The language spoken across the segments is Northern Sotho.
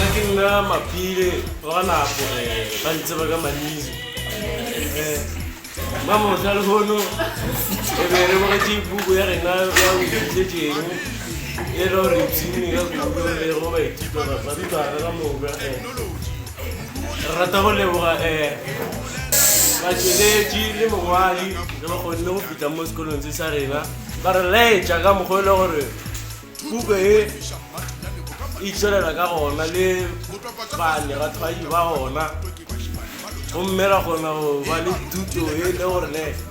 Nna ke nna maphile ba ga nako eh, ba ntseba ka manizo Eh, ba mohla le hono e be re bogetše puku ya rena ya boitletšeng e le gore tsini ka kudu le go baithuta barutwana ka moka eh. re rata go leboga um batšweletši le mongwadi re ba kgonne go fitlha mo sekolong se sa rena ba re laetša ka mokgwa e le gore puko e e tswelela ka gona le bane bathwadi ba gona gomme ra kgona go ba le thuto e le gore ne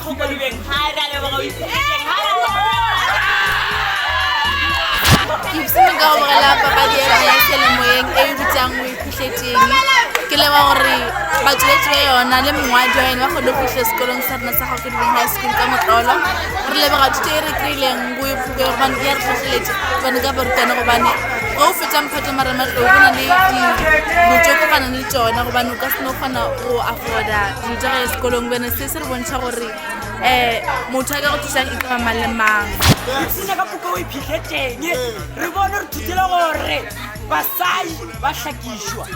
Kgokolubeng ha re a leboga o itse Kekeng ha re a leboga. Gibson nka go bogela papadi ya yona ya selemoyeng e e bitsang o iphitlhetseng ke leba gore batsweletsi ba yona le mongwadi wa yone ba kgone go fitlha sekolong sa rena sa gago dibeng high school ka motlolo re lebega thuto e re kry-ileng go e fuke gobane ya re tlhotlheletse gobane ka borutane gobane ge o fetsa mphato marematlou go na le dilo tse kopanang le tsone gobane o ka seno kgona go afforda dilo tsa ga ya sekolong bene se go bontšha gore um motho a ka go thusang e tloba mang le mang ipone ka moka o iphitlhetleng re bone re thutile gore basadi ba hlakišwa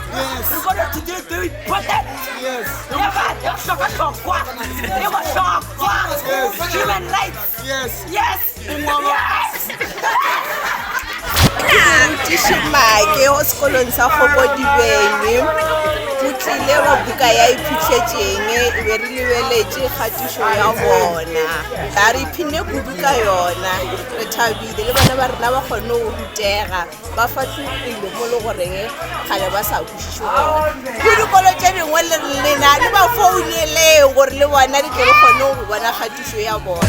re bone re thutile tse o iphote le batho tlhokwatlhokwa le botlhokwa human rights yes tišimake o sekolong sa kgokodibeng o tlile wa buka ya iphitlhetšeng e be re lebeletše kgatišo ya bona ba re phine kudu ka yona re thabile le bona ba rena ba kgone go rutega ba fahlogile mo le goreng kgale ba sa kwešiše gona go dikolo tše dingwe lena le ba founeleng gore le bona di tlele kgone go bona kgatišo ya bona